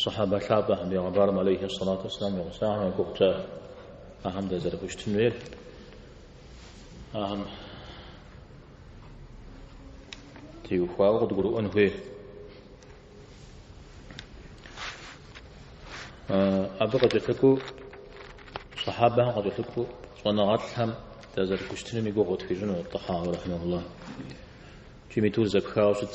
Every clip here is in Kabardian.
Сыхьэбэ лъапӏэхэм Пегъэмбарым алейхи сэлату уссалам и гъусэхэм я гугъу тщӏа, ахэм дызэрыхущытын хуейр ахэм теухуауэ къыдгурыӏуэн хуей. Абы къыкӏэлъыкӏуэу сыхьэбэхэм къыкӏэлъыкӏуэу щӏэныгъэлӏхэм дызэрыхущытыным и гугъу къытхуищӏыну Тӏэхьауи рахьимэхулла. Икӏи мы итӏур зэпхауэ щыт.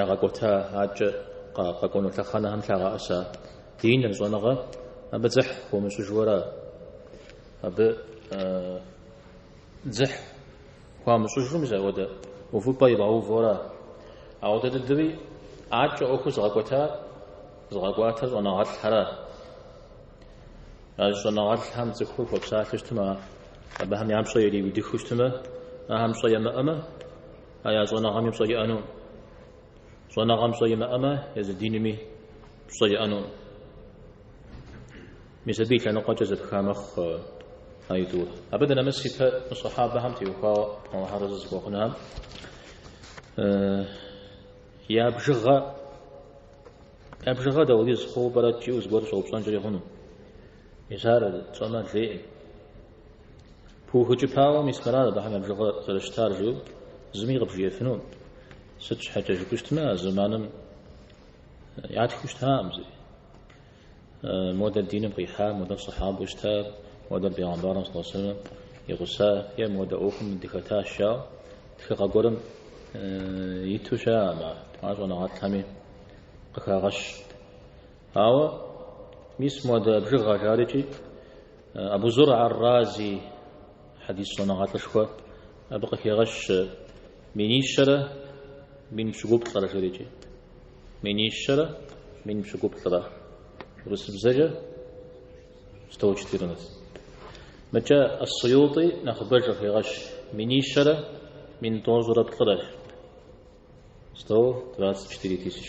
Ягъэкӏуэта адэкӏэ къэкӏуэну лъэхъэнэхэм лъагъэӏэса диныр, щӏэныгъэ, абы дзыхь хуамыщӏыжуэра? Абы дзыхь хуамыщӏыжу мис ауэдэ увыпӏэ ибгъэувэура? Ауэдэ дыдэуи адэкӏэ ӏуэхур зыгъэкӏуэтар, зыгъэкӏуатэр щӏэныгъэлӏхэра? А щӏэныгъэлӏхэм цӏыхур хуэпсалъэу щытмэ, абыхэм я пщӏэ ириудыхыу щытмэ, ахэм пщӏэ ямыӏэмэ, А я щӏэныгъэми пщӏэ иӏэнукъым. Щӏэныгъэм пщӏэ имыӏэмэ, езы динми пщӏэ иӏэнукъым. Мис абы и лъэныкъуэкӏэ зэпха мэхъу а итӏур. Абы дынэмыс ипэ мы сыхьэбэхэм теухуауэ Алыхьыр арэзы зыхуэхъунхэм я бжыгъэ я бжыгъэ дауэдиз хъууэ пӏэрэ жиӏэу зыгуэр щӏэупщӏэнкӏэри хъуну. Мис ар тщӏэмэ лейкъым. Пыухыкӏыпауэ мис мыра абыхэм я бжыгъэ зэрыщытар жиӏэу зыми къыбжиӏэфынукъым. Сыт щхьэкӏэ жыпӏэу щытмэ, а зэманым ятхыу щытакъым зыри. Модэр диным къихьа, модэр сыхьабэу щыта, модэр Бегъэмбарым сэлэллаху алейхи уэсэллэм и гъуса, е модэ ӏуэхум дыхэтащ жаӏэу тхыгъэ гуэрым иту щыӏэкъым ар, ар щӏэныгъэлӏхэми къыхагъэщ. Ауэ мис модэ бжыгъэ жарикӏи, Абу Зургъэ ар-Рази хьэдис щӏэныгъэлӏышхуэ абы къыхегъэщ минищэрэ мин пщыкӏуплӏрэ жерикӏи. Минищэрэ мин пщыкӏуплӏрэ урысыбзэкӏэ 114. Мыкӏэ Ас-Суйути нэхъыбэж къыхегъэщ минищэрэ мин тӏощӏрэ плӏырэ 124 тысяч.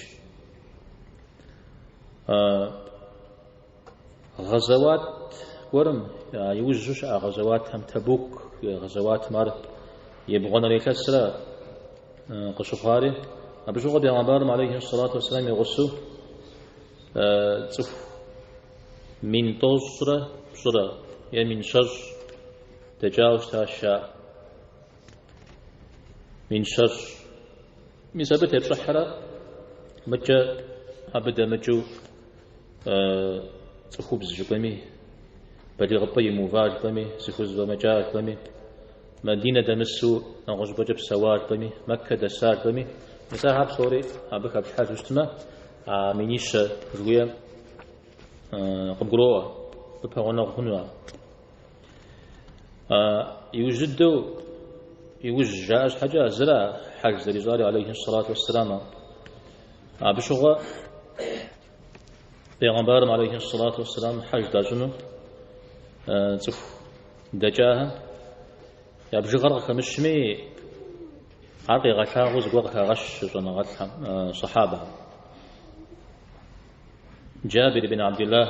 Гъэзэуат гуэрым, а иужьу щыӏа гъэзэуатхэм, Табук гъэзэуатым ар ебгъуанэрей илъэсра къыщыхъуари, абы щыгъуэ Пегъэмбарым алейхи сэлату вассалам и гъусэу цӏыху мин тӏощӏрэ пщӏырэ е мин щэщӏ дэкӏауэ щытащ, а мин щэщӏ. Мис абы тепщӏыхьрэ мыкӏэ абы дэмыкӏыу Цӏыхубз жыпӏэми, балигъыпӏэ имыува жыпӏэми, зыхузэфӏэмыкӏа жыпӏэми, Мадинэ дэмысу нэгъуэщӏыпӏэкӏэ псэуа жыпӏэми, Мэккэ дэса жыпӏэми, мис ахэр псори абы хэплъхьэжу щытмэ, а минищэ жыхуиӏэм къыбгуроӏуэ, къыпэгъунэгъу хъуну ар. Иужь дыдэу иужь жаӏэ щхьэкӏэ зыра хьэж зэрищӏар алейхи салату вассалам. Абы щыгъуэ бегъэмбарым алейхи салату вассалам хьэж дащӏыну цӏыху дэкӏахэм я бжыгъэр къыхэмыщми ар къигъэлъагъуэу зыгуэр къыхагъэщ щӏэныгъэлӏхэм сахьабэхэм. Джабир ибн Абдиллах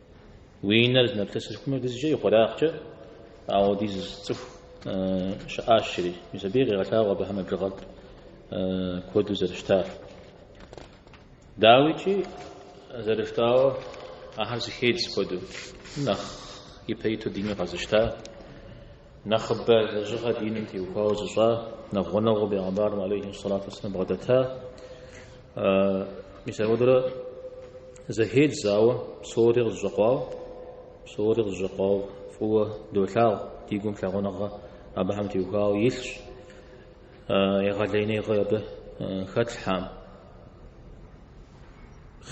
Уи нэр зынэплъысым хуэдизкӏэ ихъуреягъкӏэ ауэ дэзу цӏыху щыӏащ, жери. Мис абыи къегъэлъагъуэ абыхэм я бжыгъэр куэду зэрыщытар. Дауикӏи, зэрыжытӏауэ, ахэр зыхедз куэду, нэхъ ипэ иту диныр къэзыщта, Нэхъыбэ лэжьыгъэ диным теухуауэ зыщӏа нэхъ гъунэгъуу бегъэмбарым алейхи салату вассалам бгъэдэта. Мис апхуэдэурэ зэхедз, ауэ псори къызэщӏэкъуауэ, псори къызэщӏэкъуауэ фӏыуэ долъагъу, ди гум лъагъуныгъэ абыхэм теухуауэ илъщ. Егъэлеиныгъэ абы хэтлъхьэкъым.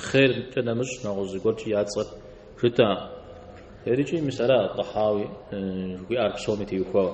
Хъеркӏэ нэмыщӏ нэгъуэщӏ зыгуэркӏи я цӏэр жытӏэкъым. Ерыкӏи мис ара Тӏэхьауи жыхуиӏар псоми теухуауэ.